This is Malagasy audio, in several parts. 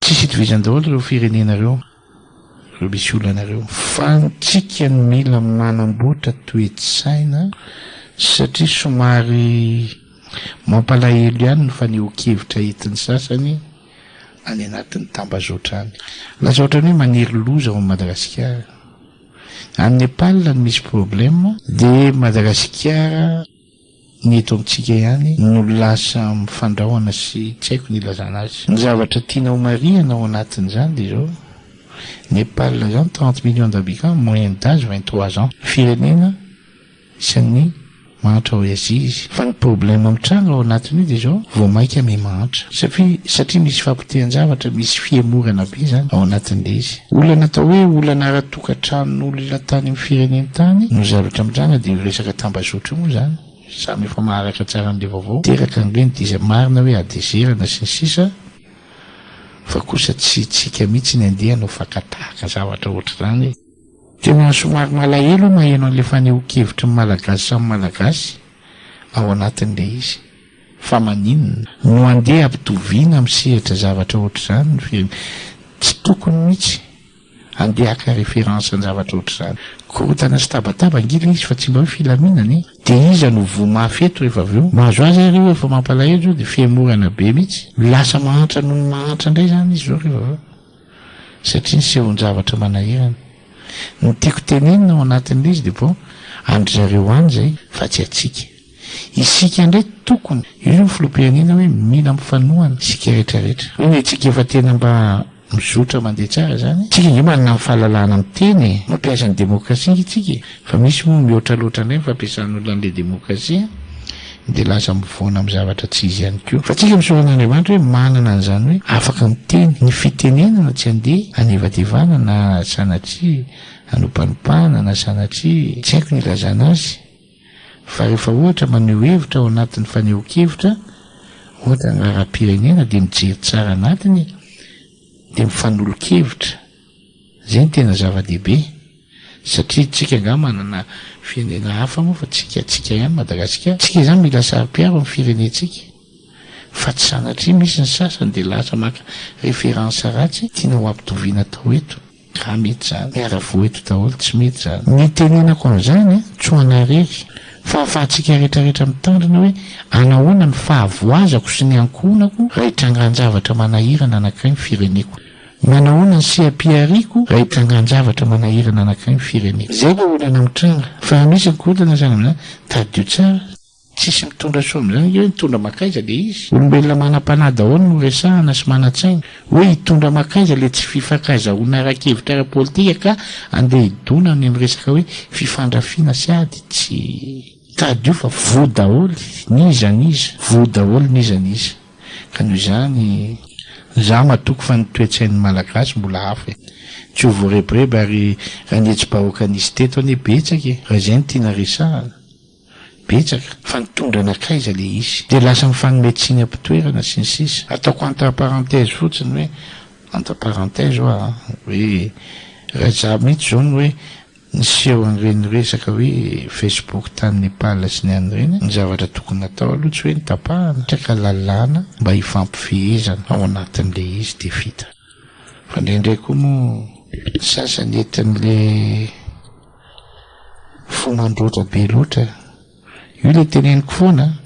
Tsisy itovizany daholo ireo firenena ireo, ireo misy olana ireo. Fa antsika no mila manamboatra toe-tsaina satria somary mampalahelo ihany ny fanehoan-kevitra entin'ny sasany any anatin'ny tambazotra any. Lasa ohatran'ny hoe manery loza ao amin'i Madagasikara. Any Nepal no misy problème dia Madagasikara. Ny eto amintsika ihany no lasa mifandrahona sy tsy haiko ny hilazana azy. Ny zavatra tiana homarihana ao anatin'izany dia izao, Nepal izany trente millions d'habitants, moyenne d'age vingt trois ans. Firenena isan'ny mahantra ao Azia izy. Fa ny problème mitranga ao anatin'io dia izao, vao mainka miha-mahantra. Satria satria misy fahapotehan-javatra, misy fihemorana be izany ao anatin'ilay izy. Olana atao hoe olana ara-toekarena. Tokantranon'olona tany amin'ny fireneny tany no zavatra mitranga dia io resaka tambazotra io moa izany samy efa maharaka tsara an'ilay vaovao teraka ange ny diza marina hoe adezerana sy ny sisa fa kosa tsy hitsika mihitsy ny andeha hanao fakatahaka zavatra ohatr'izany e! Tena somary malahelo aho maheno an'ilay fanehoan-kevitry ny Malagasy samy Malagasy ao anatin'ilay izy fa maninona no handeha hampitoviana amin'ny sehatra zavatra ohatr'izany ny firenena? Tsy tokony mihitsy Andeha haka référence an-javatra ohatr'izany. Korontana sy tabataba ange ilay izy fa tsy mba hoe filaminana e! Dia iza no voa mafy eto rehefa avy eo? Mahazo azy ary io efa mampalahelo izao dia fihemorana be mihitsy. Lasa mahantra noho ny mahantra indray izany izy izao rehefa avy eo. Satria nisehoan-javatra manahirana. Ny tiako tenenina ao anatin'ilay izy dia bon, an-dry zareo any izay fa tsy antsika. Isika indray tokony, io zao filoham-pirenena hoe mila mifanohana isika rehetra rehetra. Hoe isika efa tena mba mizotra mandeha tsara izany e. Isika ange manana ny fahalalahana miteny e. Mampiasa ny demokrasia ange isika e. Fa misy moa mihoatra loatra indray ny fampiasan'olona an'ilay demokrasia dia lasa mivoana amin'ny zavatra tsy izy ihany koa. Fa isika misaora an'Andriamanitra hoe manana an'izany hoe afaka miteny. Ny fitenenana tsy andeha hanevadevana na sanatria hanopanopana na sanatria tsy haiko ny ilazana azy. Fa rehefa ohatra maneho hevitra ao anatin'ny fanehoan-kevitra, ohatra ny raharaham-pirenena dia mijery tsara anatiny e, dia mifanolo-kevitra, izay no tena zava-dehibe, satria tsika angaha manana firenena hafa moa fa tsika tsika ihany Madagasikara, tsika izany mila saro-piaro ny firenentsika, fa tsy sanatria misy ny sasany dia lasa maka référence ratsy tiana ho ampitoviana atao eto. Raha mety zany, miara-voa eto daholo, tsy mety zany. Nitenenako an'izany an, tsy ho anay irery, fa afahantsika rehetra rehetra mitandrina hoe anahoana ny fahavoazako sy ny ankohonako raha itrangan-javatra manahirana anankiray ny fireneko. Manahoana ny seha-pihariako raha itrangan-javatra manahirana anankiray ny fireneko. Izay ilay olana mitranga. Fa raha misy ny korontana, zany amin'izany, tadidio tsara. Tsisy mitondra soa amin'izany nge hoe nitondra makaiza le izy? Olombelona manam-panahy daholo no resahana sy manan-tsaina. Hoe hitondra makaiza le tsy fifankaizahoana ara-kevitra ara-politika ka andeha hidona any amin'ny resaka hoe fifandrafiana sy ady. Tsy hitady io fa voa daholo n'iza n'iza. Voa daholo n'iza n'iza. Ka noho izany, za matoky fa ny toe-tsain'ny Malagasy mbola hafa e. Tsy ho voarebireby ary raha ny hetsibahoaka nisy teto anie betsaka e. Raha izay no tiana resahana. betsaka fa nitondra anakaiza le izy de lasa mifanome tsiny ampitoerana sy ny sisa ataoko entre parenthèse fotsiny hoe entre parenthèse oa a hoe Rajah mitsy zao no hoe niseho an'ireny resaka hoe Facebook tany Nepal sy ny any ireny ny zavatra tokony natao aloha tsy hoe ny tapahana satria ka lalàna mba hifampifehezana ao anatin'le izy de vita fa ndraindray koa moa ny sasany entin'le Fo mandroatra be loatra. Io ilay teneniko foana a!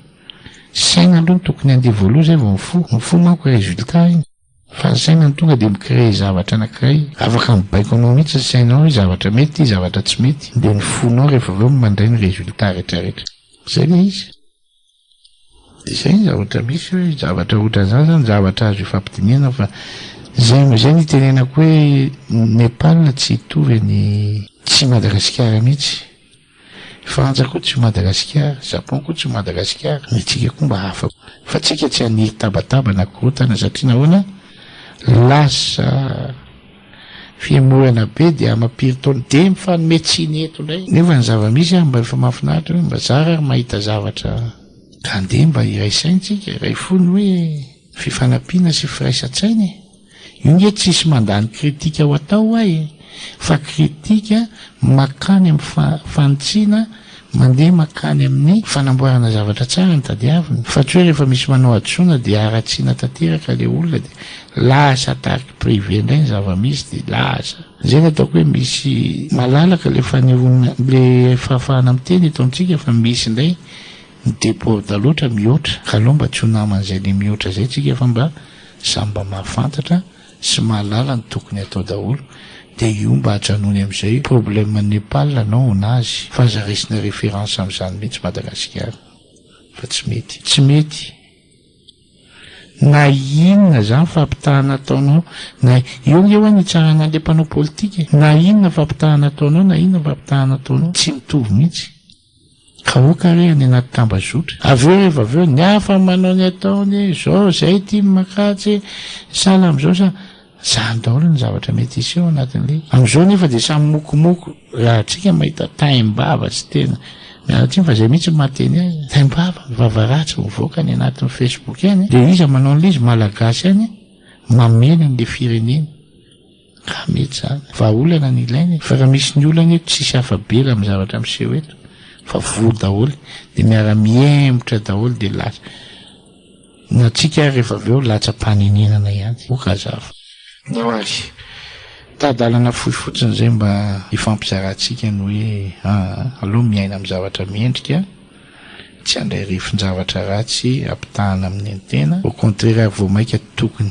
Saina aloha no tokony handeha voaloha izay vao ny fo. Ny fo manko résultat iny. Fa ny saina no tonga dia mi-créer zavatra anankiray. Afaka mibaiko anao mihitsy ny sainao hoe zavatra mety ity, zavatra tsy mety. Dia ny fonao rehefa avy eo no mandray ny résultat rehetra rehetra. Izay ilay izy. Dia izay ny zavatra misy hoe zavatra ohatran'izany izany zavatra azo ifampidinihana fa izay no izay no itenenako hoe Nepal tsy hitovy any tsy i Madagasikara mihitsy. Frantsa koa tsy ho Madagasikara, Japon koa tsy ho Madagasikara, ny antsika koa mba hafa koa. Fa antsika tsy haniry tabataba na korontana satria nahoana? Lasa. Fihemorana be dia amam-piry taona dia mifanome tsiny eto indray. Nefa ny zava-misy ary mba efa mahafinaritra hoe mba zara ary mahita zavatra ka andeha mba iray saintsika, iray fo ny hoe fifanampiana sy firaisan-tsaina e! Io nge tsisy mandany kritika ho atao ho'a e! Fa kritika makany amin'ny fa-fanitsiana Mandeha mankany amin'ny fanamboarana zavatra tsara ny tadiaviny fa tsy hoe rehefa misy manao hadisoana dia haratsiana tanteraka ilay olona dia lasa tarky privé indray ny zava-misy dia lasa izay no ataoko hoe misy malalaka ilay fanehoana ilay fahafahana miteny eto amintsika fa misy indray ny déborde loatra mihoatra ka aleo mba tsy ho naman'izay le mihoatra izay tsika fa mba samy mba mahafantatra sy mahalala ny tokony atao daholo dia io mba ajanony amizay problème Nepal anao honazy fa aza raisina référence amizany mihitsy Madagasikara fa tsy mety tsy mety na inona zany fampitahana ataonao na eo nge ho'a ny hitsarana anle mpanao politika e na inona fampitahana ataonao na inona fampitahana ataonao tsy mitovy mihitsy. Ka ok re any anaty tambazotra. Avy eo rehefa avy eo ny hafa manao ny ataony, zao zay ity ny makajy, sahala amzao sa, zany daholo ny zavatra mety hiseho ao anatin'le. Amzao nefa dia samy mokomoko raha atsika mahita taim-bava tsy tena miala tsiny fa zay mihitsy no mahateny azy, taim-bava, vava ratsy mivoaka any anatin'ny Facebook any dia iza manao an'le izy, malagasy any mamely an'le fireneny. Raha mety izany. Vahaolana no ilaina e. Fa raha misy ny olana eto, tsisy afa-bela amin'ny zavatra miseho eto, fa voa daholo, dia miara-mihemotra daholo dia lasa. Ny antsika ary rehefa avy eo latsa-panenenana ihany. Ok azafady. Nao ary. Tadalana fohy fotsiny izay mba hifampizarantsika ny hoe aa, aleo miaina amin'ny zavatra mendrika, tsy handray refin-javatra ratsy ampitahana amin'ny tena, au contraire ary vao maika tokony.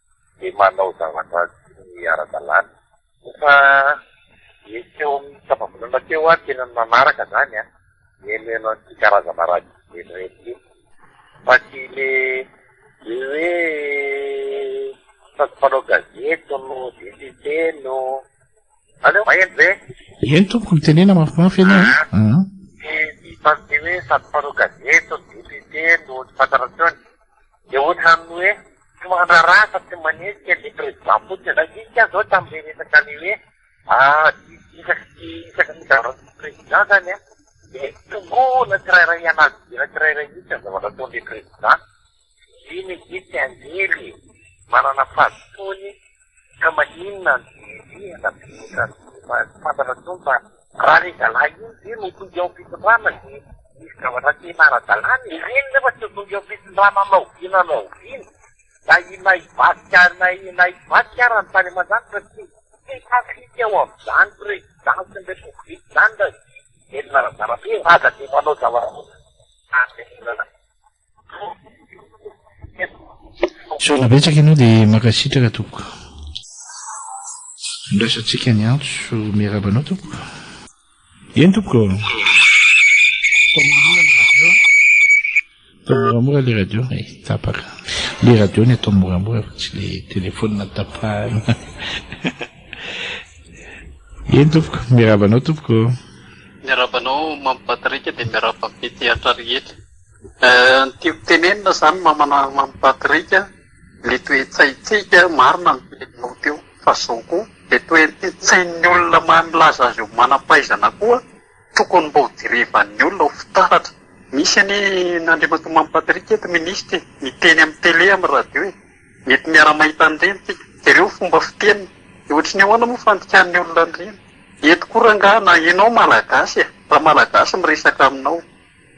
dia manao zavatra tsy ara-dalàna. Efa nisy teo amin'ny tapavolana teo aho tena nanaraka izany an, nihainohaino an'ity karazana radio feno reny ity. Fa tsy ilay be hoe sady mpanao gazety no député no. Aleo maheno ve? Eny tompoko, mitenena mafimafy ianao a. An? Tsy tsy tsy hoe sady mpanao gazety no député no tsy fantarantsony. Dia ohatran'ny hoe. Tsy mandraraha fa tsy manenjika ny Président fotsiny ianao. Nisy aho zao tamin'le resaka le hoe isaky ny isaky ny migaran'ny tsy Président zany an, dia tongooina tsirairay hianazy dera tsirairay mihitsy ny zavatra ataon'le Président. Iny izy iny tsy anjely e! Manana fahadisoany. Ka maninona no diredrehana be otrany fa tsy fantatra intsony fa raha le zalahy iny ve no tody eo ampitondrana de misy zavatra tena ara-dalàna e! Ireny nefa tsy tody eo ampitondrana na oviana na oviana na inona hivadika na hivadika ara ny tany aman-danitra tsy tsy mifanfika eo amin'izany president sy ny république izany raha vita velona ara-dalabe raha de manao zava-doza any le olana. Sorona betsaka ianao dia mankasitraka tompoko. Andraisantsika ny antso miarahaba anao tompoko. Eny tompoko. Atao moramora le radio e, tapaka. Le radio ny atao moramora fa tsy le telefonina tapahana. Eny tompoko, miarahaba anao tompoko. Miarahaba anao Mamy Patrick dia miarahaba ny mpitia rehetra. Ny tiako tenenina izany mamana Mamy Patrick a, le toe-tsaintsika marina ny teninao teo fa zao koa le toe-tsain'ny olona mahay milaza azy eo manam-pahaizana koa tokony mba ho jerevan'ny olona ho fitaratra. Misy anie an'Andriamatoa Mamy Patrick eto minisitra e, miteny amin'ny tele amin'ny radio e, mety miara mahita an'ireny tsika, jereo ny fomba fiteniny, dia ohatra ny ahoana moa ny fandikan'ny olona an'ireny? Eto koa rangahy na ianao malagasy e, raha malagasy miresaka aminao.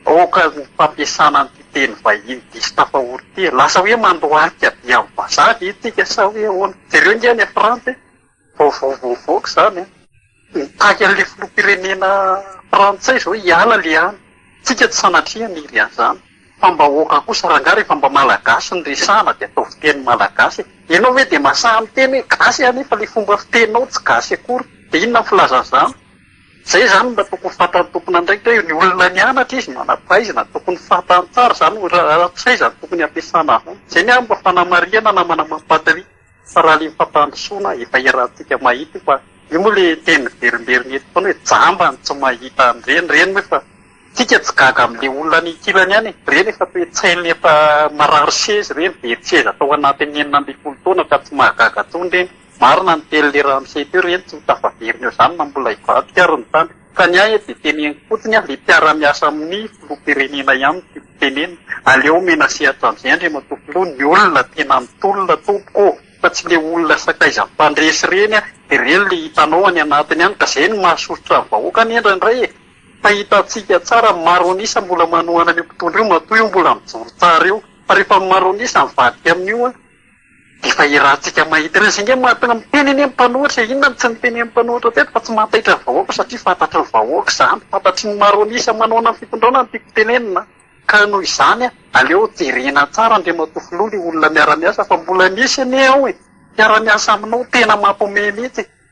Aoka ny fampiasana an'ity teny vahiny diso tafahory ity e! Lasa hoe mandohalika be amin'ny vazaha ve isika sa hoe ahoana? Jereo ange any Frantsa e! Vaovao vao nivoaka izany an! Mitaky an'ilay filoham-pirenena frantsay izao hiala ilay any. Tsika tsy sanatria niry an'izany. Fa mba aoka kosa, rangahy rehefa mba malagasy no resahana dia ataovy teny malagasy e! Ianao ve dia masaha miteny hoe gasy anefa ilay fomba fiteninao tsy gasy akory? Dia inona ny filazan'izany? Izay izany mba tokony ho fantan'ny tompon'andraikitra hoe ny olona nianatra izy, manam-pahaizana, tokony fantany tsara izany hoe raha tsy hay izany tokony ampiasana izany. Izay ny ahy mba fanamarihana na manamam-patria fa raha ilay fampandrosoana efa erantsika mahita io fa io moa ilay teny miverimberina eto foana hoe jamba ny tsy mahita an'ireny, ireny moa efa isika tsy gaga amin'ilay olona any ankilany ihany e, ireny efa toe-tsaina efa marary seza ireny, very seza tao anatin'ny enina ambin'ny folo taona ka tsy mahagaga intsony ireny. Marina ny telo lera miseha teo ry eny tsy ho tafaverina eo izany na mbola hivadika ary ny tany. Fa ny ahy eto dia teneniko fotsiny aho ilay mpiara-miasa amin'ny filoham-pirenena ihany no tiako tenenina. Aleo omena sehatra amin'izay Andriamatoa Filoha ny olona tena mitolona tompoko ô! Fa tsy ilay olona sakaizan'ny mpandresy ireny an! Dia ireny ilay hitanao any anatiny any ka izay no mahasosotra ny vahoaka anie indraindray e! Fa hitantsika tsara ny maro an'isa mbola manohana an'io mpitondra io matoa io mbola mijoro tsara eo. Fa rehefa ny maro an'isa mivadika amin'io an! Efa hirantsika mahita ireny. Izay ange mahatonga miteny anie ny mpanohitra e! Inona no tsy notenenin'ny mpanohitra teto fa tsy mahataitra ny vahoaka satria fantatry ny vahoaka izany, fantatry ny maro an'isa manohana ny fitondrana no tiako hotenenina. Ka noho izany, aleo jerena tsara Andriamatoa Filoha ilay olona miara-miasa fa mbola misy anie ao e! mpiara-miasa aminao tena mampihomehy mihitsy e!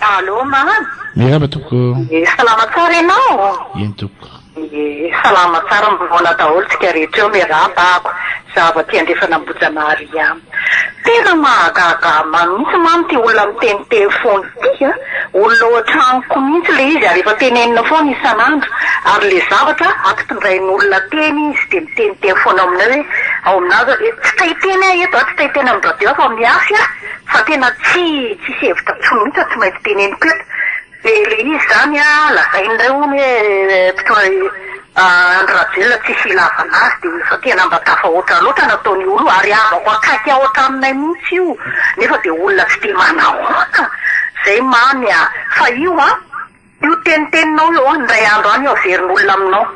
Allo mama. Miarahaba tompoko. Ye salama tsara ianao? Eny tompoko. Ye salama tsara mivona daholo tsika rehetra eo miarahaba ako zaho aty andrefana Ambojanahary ihany. Tena mahagaga ahy mihitsy mama ty olona miteniteny fona ty an. Olona ao an-tranoko mihitsy ilay izy ary efa tenenina foana isan'andro ary ilay zavatra ampitondrain'olona teny izy dia miteniteny foana aminay hoe ao aminà izao dia tsy te hiteny aho eto a, tsy te hiteny amin'ny radio aho fa amin'ny hasy aho fa tena tsy tsisy hevitra intsony mihitsy no tsy maintsy teneniko eto dia ilay izy izany lazain'ilay hono hoe mpitondra Andry Rajoelina tsisy hilavana azy dia efa tena mba tafahoatra loatra nataony olo ary havako akaiky ao an-tranonay mihitsy io nefa dia olona tsy dia manahoana izay Mamy a! Fa io an! Io teniteninao io an! Indray andro any io averin'olona aminao!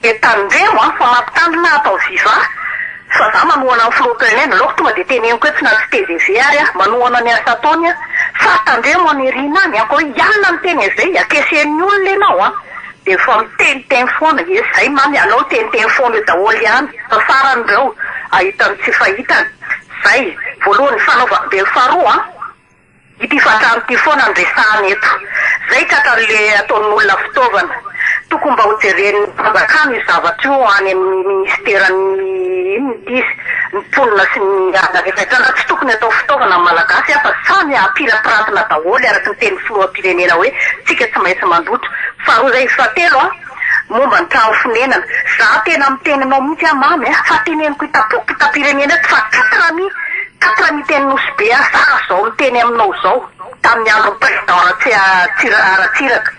Dia tandremo an! Fa mampitandrina ato amin'ny viva fa za manohana ny filoha Pelé nalaoko tonga dia teneniko etsy na tsy tgv ary aho manohana ny asa ataony an! Fa tandremo an! Ery na any an! Koa hialona ny teny izay akesen'ny olona ianao an! Dia vao miteniteny foana, ie izay man ianao teniteny foana eo daholo ihany fa farany ireo ahita ny tsy fahitany, izay voalohany fanaovany be ny faharoa an! ity fatrany ity foana no resahany eto, izay tratran' le ataon' olona fitaovana, tokony mba ho jeren' ny fanjakana io zavatra io any amin' ny ministeran' ny inona ity izy, ny mponina sy ny ala rehetra na tsy tokony atao fitaovana ny malagasy an fa samy apirapiratina daholo araka ny tenin' ny filoham-pirenena hoe tsika tsy maintsy mandoto. Faharoa zay izy fahatelo a, momba ny trano fonenana, za tena miteny anao mihitsy a Mamy a, fa teneniko itampoko mpitapirenena eto fa quatre ami quatre ami teny Nosy Be a za zao miteny aminao zao tamin'ny andron'ny président Ratsia Ratsiraka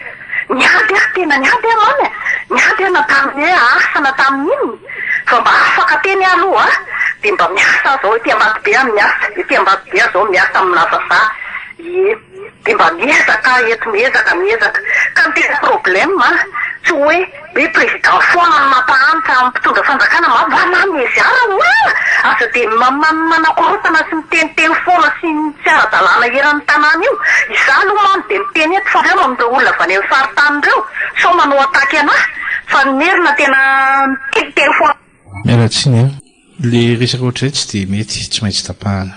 niady a, tena niady a Mamy a, niady a na tamin'ny hoe asa na tamin'ny inona fa mba afaka teny ah aloha a, de mba miasa ah zao ety Ambatobe a miasa, ety Ambatobe ah zao miasa amina vazaha, ie. Dia mba miezaka ah, eto miezaka, miezaka. Ka ny tena problème an, tsy hoe hoe président foana no mampahantra amin'ny mpitondra fanjakana ma va na ny ezy ara o ah! Aza dia maman manakorontana sy miteniteny foana sy ny tsy ara-dalàna eran'ny tanàna io. Izaho aloha man dia miteny eto fa reo amin'ireo olona avy any amin'ny faritany ireo sao manao attaque anahy fa ny merina tena miteniteny foana. Miala tsiny an! Ilay resaka ohatr'izay tsy dia mety, tsy maintsy tapahana.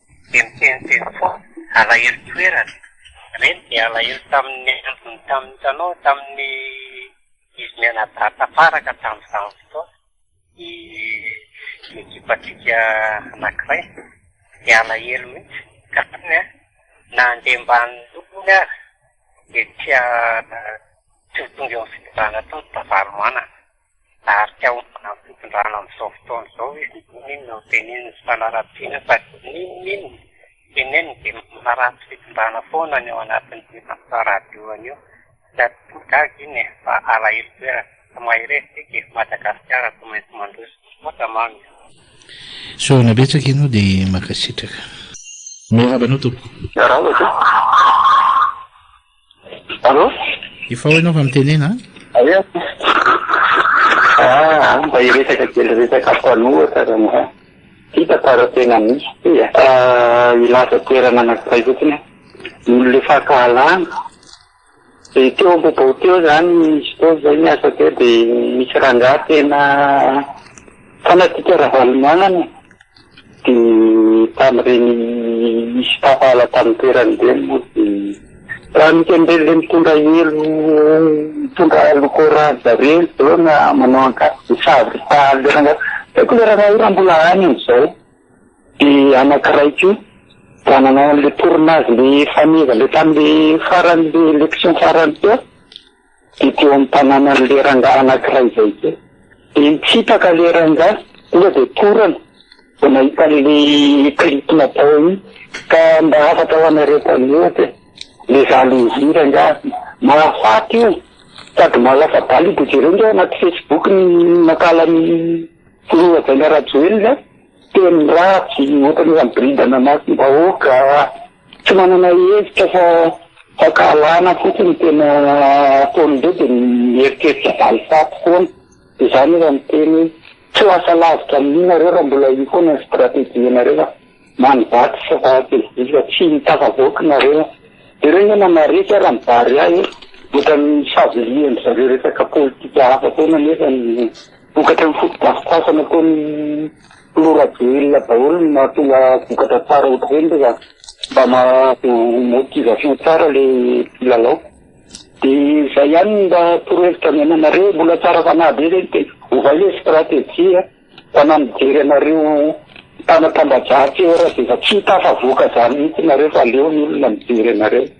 Dia miteniteny foana, alahelo toerana. Reny dia alahelo tamin'ny antony, tamin'ny hitanao, tamin'ny izy mianadahy tafaraka tamin'izany fotoana, ny ekipantsika anankiray, dia alahelo mihitsy ka teny an, na handeha ambany lohany aza dia tsy ho tonga eo amin'ny fitondrana tao ny Ravalomanana. Tarika homanan'ny fitondrana amin'izao fotoana izao izy, n'inona n'inona no teneniny tsy fanaratsiana fa n'inona n'inona teneniny dia manaratsy fitondrana foana ny ao anatin'ity After Radio anio. Tsy aton'ny gaga iny e, fa alahelo toerana. Tsy mahay resy isika e, Madagasikara tsy maintsy mandroso. Misaotra Mamy a. Sorona betsaka ianao dia mankasitraka. Miarahaba anao tompoko. Miarahaba tompoko. Allo? Efa ao ianao fa mitenena an! Aia aho ty? Ah, mba hiresaka kely resaka mpanohatra raha mba hitako raha tena misy ty e. Ah, hilaza toerana anankiray fotsiny aho. Nony le fankahalana, de teo am-bobao teo zany, izy teo zay niasa teo de nisy rangahy tena. Fanatika Ravalomanana dia tamin'ireny nisy tafaala tamin'ny toerany ireny moa dia raha misy an'ireny ilay mitondra elo mitondra loko orange ireny izao na manao akanjo savoritaly ireny angamba tsy haiko ilay rangahy io raha mbola any amin'izao dia anankiray koa raha nanao an'ilay tournage ilay faneva ilay tamin'ilay farany ilay élection farany teo dia teo amin'ny tanànan'i Leranga anankiray izay koa. Dia nitsipaka ilay ranga, tonga dia torana vao nahita an'ilay clip natao iny. Ka mba hafatra ho anareo mpanohitra e, ilay zalon'i Zira angaha mahafaty io sady mahalasa-bala io, dia jereo ange ao anaty Facebook ny nakala an'i Filoha Jaina Rajoelina, teny ratsy, ohatran'ny hoe hamboridana maso ny vahoaka. Tsy manana hevitra fa fankahalana fotsiny no tena ataon'ireo dia mieritreritra valifaty foana. Izany raha miteny hoe tsy ho asa lavitra amin'io nareo raha mbola io foana ny stratégie nareo a! Many vato sy vato vy tsy tafavoaka nareo a! Jereo nge manaretsy ara ny Barea e! Ohatran'ny misavilihan-dry zareo resaka politika hafa foana nefa ny vokatra ny foto-drafitrasa nataon'i. Mora be olona daholo no mahatonga vokatra tsara eto be nge ka. Mba mahazo motivation tsara le mpilalao. De zay ihany ny mba torohevitra ny ananareo, mbola tsara fanahy be zay de ovay le strategie a. Fa na mijery anareo mpanatambadratsy eo ary aza efa tsy hita afa voka zany mihitsy nareo fa aleo ny olona mijery anareo.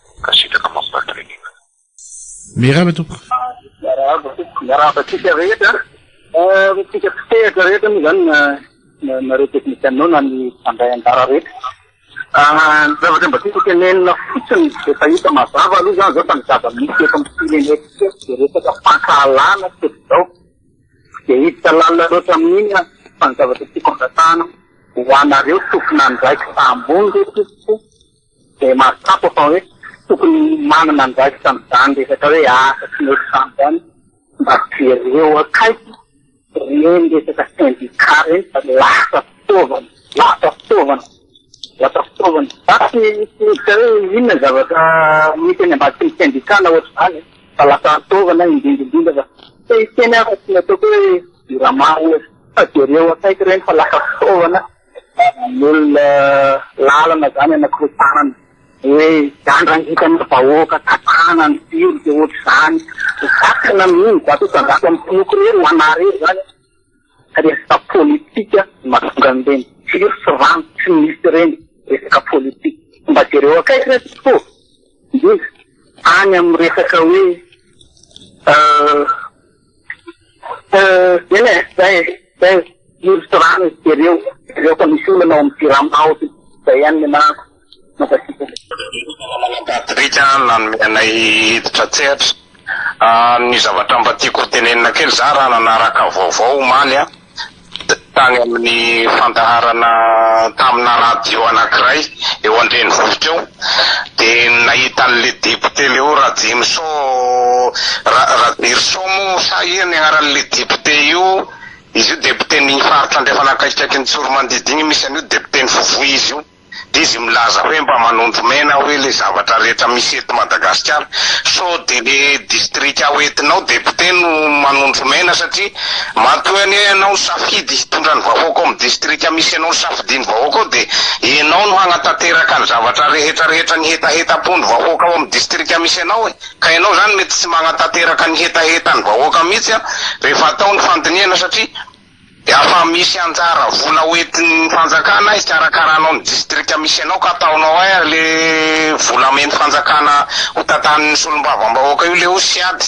Mankasitraka mampatrehina. Miarahaba tompoko. Miarahaba tompoko. Miarahaba antsika rehetra. Antsika mpitehitra rehetra moa zany na nareo technicianao na ny mpandray anjara rehetra. Ny zavatra mba tiako tenenina fotsiny efa hita mazava aloha zany zao fa ny zava-misy eto amin'ny firenentsika dia resaka fankahalana tsy zao. Tsy dia hiditra lalina loatra amin'iny aho fa ny zavatra tiako angatahana ho anareo tompon'andraikitra ambony re tompoko. Dia mahatsapa fa hoe tokony manana andraikitra amin'izany resaka hoe asa tsy mety izany izany mba jereo akaiky ireny resaka sendikà ireny fa lasa fitaovana, lasa fitaovana, lasa fitaovana. Za tsy tsy midika hoe inona ny zavatra misy any ambadiky ny sendikà na ohatr'izany e, fa lasa fitaovana indrindra indrindra fa te hiteny aho fa tsy ny ataoko hoe jirama ohatra fa jereo akaiky ireny fa lasa fitaovana. Vavan'olona lalana zany anakiroa tanana hoe iandrangitana vahoaka tatana ny jiro de ohatr'izany zaka na mino zato isanjato amin'ny mpinoky rery ho ana rery zany resaka politika no mahatonga an'ireny jiro sy rano tsy misy ireny resaka politika mba jereo akaiky re tompoko ô indrindra any amin'ny resaka hoe Eny e, zay e, zay e, nosy rano jereo, jereo fa misy olana ao amin'ny jirama ao ty, zay ihany ny anarako, mankasitraka. Namana Patrick a, nanome anay hiditra an-tsehatra. Ny zavatra mba tiako hotenenina kely, za raha nanaraka vaovao omaly a, tany amin'ny fandaharana tamina radio anankiray eo an-drenivohitra eo dia nahita an'ilay député leo Rajimison Ra Rajirison moa sa iza ny anaran'ilay député io, izy io député ny faritra andrefana akaikikaikin'i Tsoromandidy iny misy an'io député-n'i Vovoy izy io. Dia izy milaza hoe mba manondro mena hoe le zavatra rehetra misy eto Madagasikara. Sao dia le distrika ho entinao député no manondro mena satria matoa anie ianao no safidy hitondra ny vahoaka ao amin'ny distrika misy anao nosafidian'ny vahoaka ao dia ianao no hagnatanteraka ny zavatra rehetra rehetra ny hetahetam-pon'ny vahoaka ao amin'ny distrika misy anao e! Ka ianao izany mety tsy magnatanteraka ny hetahetan'ny vahoaka mihitsy an! rehefa atao ny fandinihana satria Dia afa misy anjara vola hoentin'ny fanjakana hikarakaranao ny distrika misy anao ka ataonao air le vola amen'ny fanjakana hotantanin'ny solombavambahoaka io le osy ady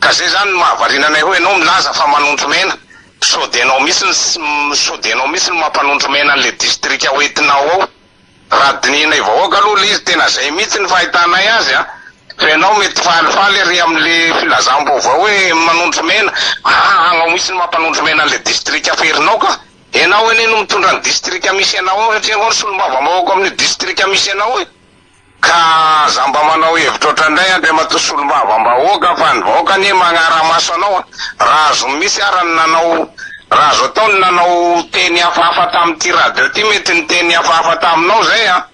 ka zay zany no mahavariana anay hoe enao milaza fa manondro mena sode enao mihitsy ny sode enao mihitsy no mampanondro mena an'le distrika hoentinao ao Raha dinihinay vahoaka aloha le izy tena zay mihitsy ny fahitanay azy an! Fa ianao mety falifaly ery amle filazam-baovao hoe manondro mena, aa anao mihitsy no mampanondro mena anle distrika aferinao ka! Ianao anie no mitondra ny distrika misy anao ao satria ianao no solombavambahoaka ao amin'io distrika misy anao io! Ka aza mba manao hevitra otrandray Andriamatoa Solombava mbahoaka fa ny vahoaka anie magnaramaso anao a! Raha azony mitsy ara ny nanao raha azo atao ny nanao teny hafahafa tamin'ity radio ty mety niteny hafahafa taminao zay a!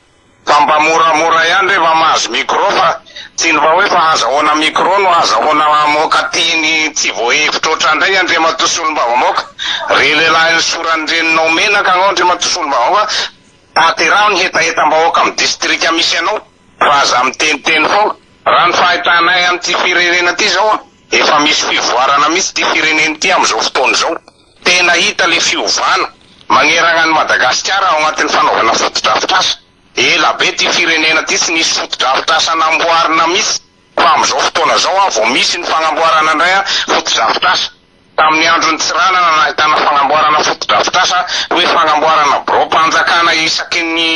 Fa mba moramora ihany re va mahazo micro fa tsy ny va hoe fa hazahoana micro no hazahoana mamoaka teny tsy voahevitra otrandray Andriamatoa Solombavambahoaka! Re lehilahy nisoran'ny reninao menaka agnao Andriamatoa Solombavambahoaka! Tanteraho ny hetahetam-bahoaka amin'ny distrika misy anao fa aza miteniteny foana. Raha ny fahitanay an'ity firenena ity izao an, efa misy fivoarana mihitsy ity firenena ity amin'izao fotoana izao. Tena hita ilay fiovana magneragna an'i Madagasikara ao anatin'ny fanaovana fotodrafitrasa. Ela be ity firenena ity tsy nisy fotodrafitrasa namboarina mihitsy fa amin'izao fotoana izao an vao misy ny fagnamboarana indray an fotodrafitrasa. Tamin'ny andron'i Tsiranana nahitana fagnamboarana fotodrafitrasa hoe fagnamboarana biraom-panjakana isaky ny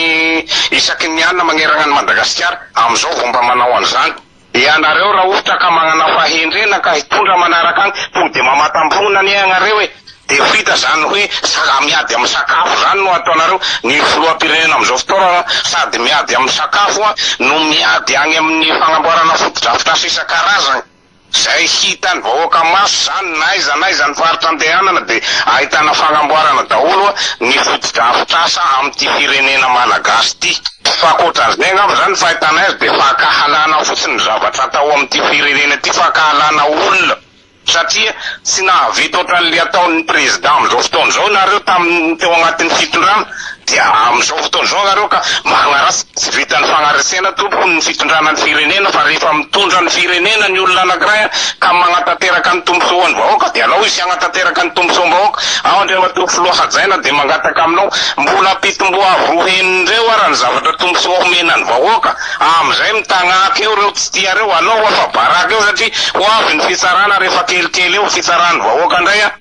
isaky ny alina magneragna an'i Madagasikara. Amin'izao vao mba manao an'izany. Ianareo raha ohatra ka magnana fahendrena ka hitondra manaraka agny, tonga dia mamatam-poana anie agnareo e! Dia ho hita izany hoe sa miady amin'ny sakafo izany no ataonareo? Ny filoham-pirenena amin'izao fotoana sady miady amin'ny sakafo no miady agny amin'ny fagnamboarana fotodrafitrasa isan-karazagny. Izay hitan'ny vahoaka maso izany na aiza na aiza ny faritra andehanana dia ahitana fanamboarana daholo ny fotodrafitrasa amin'ity firenena Malagasy ity. Fa ankoatran'izay angamba izany ny fahitanay azy dia fankahalana fotsiny ny zavatra atao amin'ity firenena ity, fankahalana olona satria tsy nahavita ohatran'ilay ataon'ny Président amin'izao fotoana izao nareo tamin'ny teo anatin'ny fitondrana Dia amin'izao fotoana izao ianareo ka magnaratsy, tsy vitan'ny fagnaresena tompoko ny fitondrana ny firenena fa rehefa mitondra ny firenena ny olona anakiray an ka magnatanteraka ny tombontsoan'ny vahoaka dia alao izy hagnatanteraka ny tombontsoam-bahoaka, ao Andriamatoa Filoha hajaina dia mangataka aminao mbola ampitomboa avo roa heny indreo ara ny zavatra tombontsoa homena ny vahoaka amin'izay mitagnaky eo ireo tsy tiareo, alao afa-baraka eo satria ho avy ny fitsarana rehefa kelikely eo fitsaran'ny vahoaka indray an.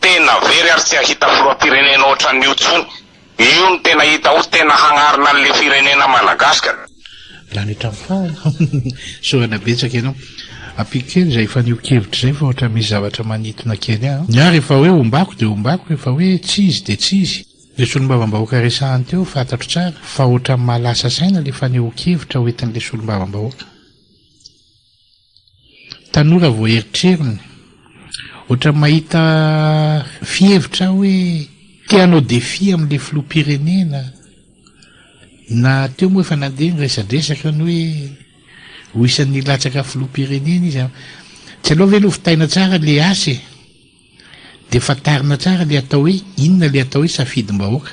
Tena very ary tsy hahita filohampirenena ohatran'io tsony. Io no tena hita ho tena hagnarina an'le firenena Madagascar. Lany hatramin'ny farany. Sorana betsaka ianao. Ampiako kely izay fanehoan-kevitra izay fa ohatran'ny misy zavatra manintona kely ahy. Ny ahy rehefa hoe ombako dia ombako, rehefa hoe tsy izy dia tsy izy. Ilay solombavambahoaka resahany teo fantatro tsara fa ohatran'ny mahalasa saina ilay fanehoan-kevitra hoentin'ilay solombavambahoaka. Tanora vao erotrerony. Ohatran'ny mahita fihevitra aho hoe te hanao défi amin'ilay filoham-pirenena. Na teo moa efa nandeha ny resadresaka ny hoe ho isan'ny hilatsaka filoham-pirenena izy. Tsy aleo ve lovitaina tsara ilay asa e! Dia fantarina tsara le atao hoe inona le atao hoe safidim-bahoaka.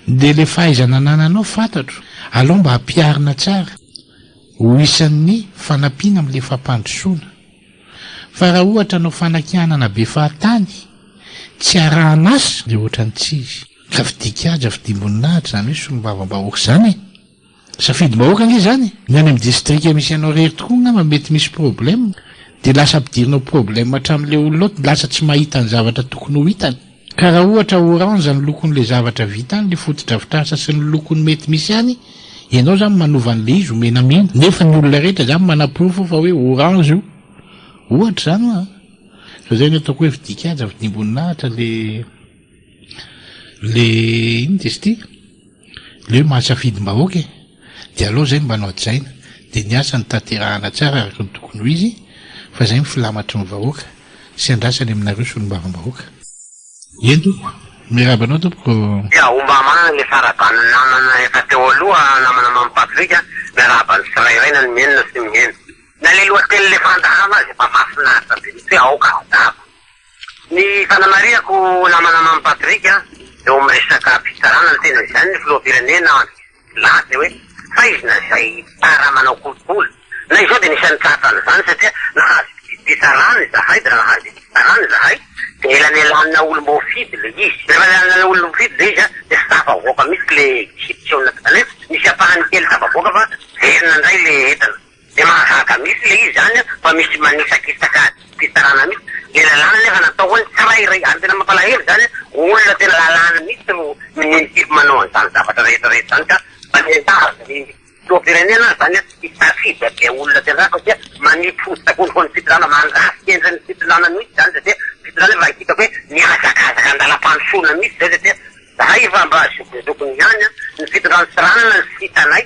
Dia le fahaizana anananao fantatro, alao mba ampiharina tsara ho isan'ny fanampiana amle fampandrosoana. Fa raha ohatra anao fanakianana be fahatany, tsy arahan'asa, dia ohatran'ny tsy izy. Ka fidian-kiaja, fidiam-boninahitra zany hoe solombavambahoaka zany e! Safidim-bahoaka ange zany e! Ny any amin'ny distrika misy anao rery tokoa ngamba mety misy problème dia lasa ampidirinao problème hatramin'ilay olona ao lasa tsy mahita ny zavatra tokony ho hitany. Ka raha ohatra orange ny lokon'ilay zavatra vita any, ny fotodrafitrasa sy ny lokony mety misy any, ianao zany manova an'ilay izy ho menamena nefa ny olona rehetra zany manaporofo fa hoe orange io. Ohatra zany hoa. Fa zay no ataoko hoe vidian-kaja vidiam-boninahitra le. Le inona izy ity? le hoe mahasafidim-bahoaka e! de aleo zay mba nohajaina de ny asa no tanterahana tsara araka ny tokony ho izy fa zay ny filamatry ny vahoaka sy andrasany aminareo solombavambahoaka. Eny tompoko, miarahaba anao tompoko. Dia homba manana ny faraban'ny namana efa teo aloha namana Mamy Patrick a, miarahaba ny tsirairay na ny mihenona sy ny miheno. Na le lohateny le fandaharana aza efa mahafinaritra be mihitsy hoe aoka handava. Ny fanamarihako namana Mamy Patrick a, eo amin'ny resaka fitsarana ny tena izany ny filoham-pirenena milaza hoe faizina izay tara manao kolikoly. Na izao dia nisy nitsapa an'izany satria nahazo fitsarana izahay dia nahazo fitsarana izahay dia elanelanina olom-boafidy ilay izy. Rehefa elanelanina olom-boafidy ilay izy dia tsy tafavoaka mihitsy ilay exception natao kanefa nisy ampahany kely tafavoaka fa very nandray ilay entana. Dia mahagaga mihitsy ilay izy izany an, fa misy manisakisaka fitsarana mihitsy, ilay lalàna anefa natao ho an'ny tsirairay, ary tena mampalahelo izany an, olona tena lalàna mihitsy no minisitry manao an'izany zavatra rehetra rehetra izany ka, mba miangavy ny filoham-pirenena ary izany an, hisafidy avy amin'ny olona tena tsara satria manipy hoditra koa noho ny fitondrana, mandrafitra endrika ny fitondrana mihitsy izany satria fitondrana efa hitako hoe mihazakazaka an-dalam-pandrosoana mihitsy izay satria izahay efa mba zokinjokiny ihany an, ny fitondrana Tsiranana no sitanay.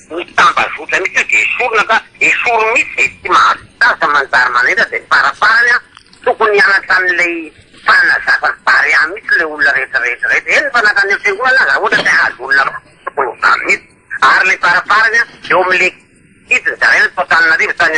Ny tambazotra mihitsy io dia esorina fa esory mihitsy izay tsy mahavita azy fa manjary manendra dia ny faraparany an tokony hianatra an'ilay fanazavan'i Barea mihitsy ilay olona rehetra rehetra rehetra eny fa nankany amin'ny fiangonana aza raha ohatra te hahazo olona maro tokony ho zany mihitsy ary ilay faraparany an eo amin'ilay gidiny zaraina tao Antananarivo tany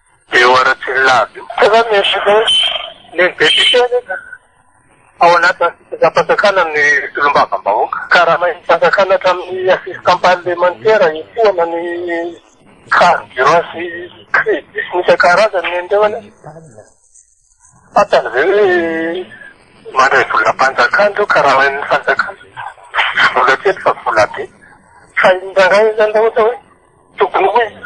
Eo Ratsirolaby io. Tena misy loatra. Ny député anefa ao anatin'ny fitondram-panjakana ny solombavambahoaka. Karamain'ny fanjakana hatramin'ny assistant parlemantera, etoana ny carburant sy crédits isan-karazany nen'ireo anefa. Fantany ve hoe mandray volam-panjakana ireo, karamain'ny fanjakana? Tsy vola kely fa vola be. Fa indraindray zany raha ohatra hoe tokony ho iza?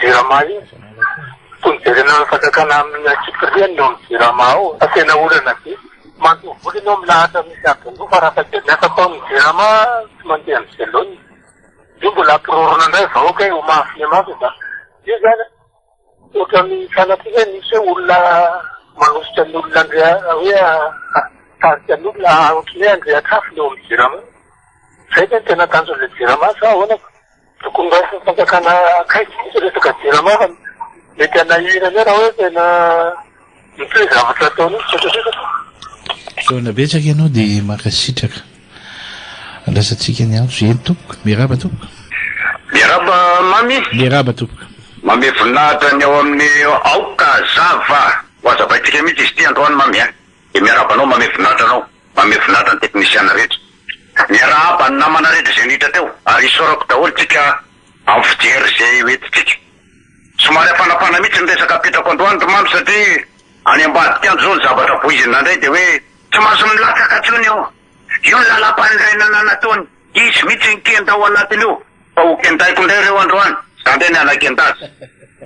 Jirama io, tokony jerena ny fanjakana amin'ny antsipiriany ny ao amin'ny jirama ao fa tena olana be. Mandoa vola ianao milahatra misy adin-droa fa rafakely ny asa atao amin'ny jirama tsy mandeha ny velonina. Io mbola hampirorona indray vahoaka e, ho mahafine mafy fa io izany an, ohatran'ny sanatria ve misy hoe olona manosika ny olona handre- hoe hatarika ny olona ohatran'ny hoe handrehatr'afo ny ao amin'ny jirama. Izay ve no tena tanjon'ilay jirama sa ahoana? Tokony raisin'ny fanjakana akaiky mihitsy resaka jirama fa mety hanahirana eo raha hoe tena mitohy ny zavatra ataony io tsy tsotsotra. Fisaorana betsaka ianao dia mankasitraka. Andrasantsika ny antso eny tompoko. Miarahaba tompoko. Miarahaba Mamy. Miarahaba tompoko. Mamy voninahitra ny ao amin'ny aoka zava ho hazavaintsika mihitsy izy ity androany Mamy a. Dia miarahaba anao mamehy voninahitra anao mamehy voninahitra ny teknisiana rehetra. Miarahaba ny namana rehetra izay niditra teo ary isaorako daholo tsika amin'ny fijery izay ho entintsika. Somary hafanafana mihitsy ny resaka apetrako androany ry Mamy satria any ambadika any izao ny zavatra voizina indray dia hoe, Tsy mahazo milatsaka intsony io, io ny lalam-panorenana nataony izy mihitsy no kenda ao anatin'io fa ho kendaiko indray ireo androany, za indray ny hanakendazy.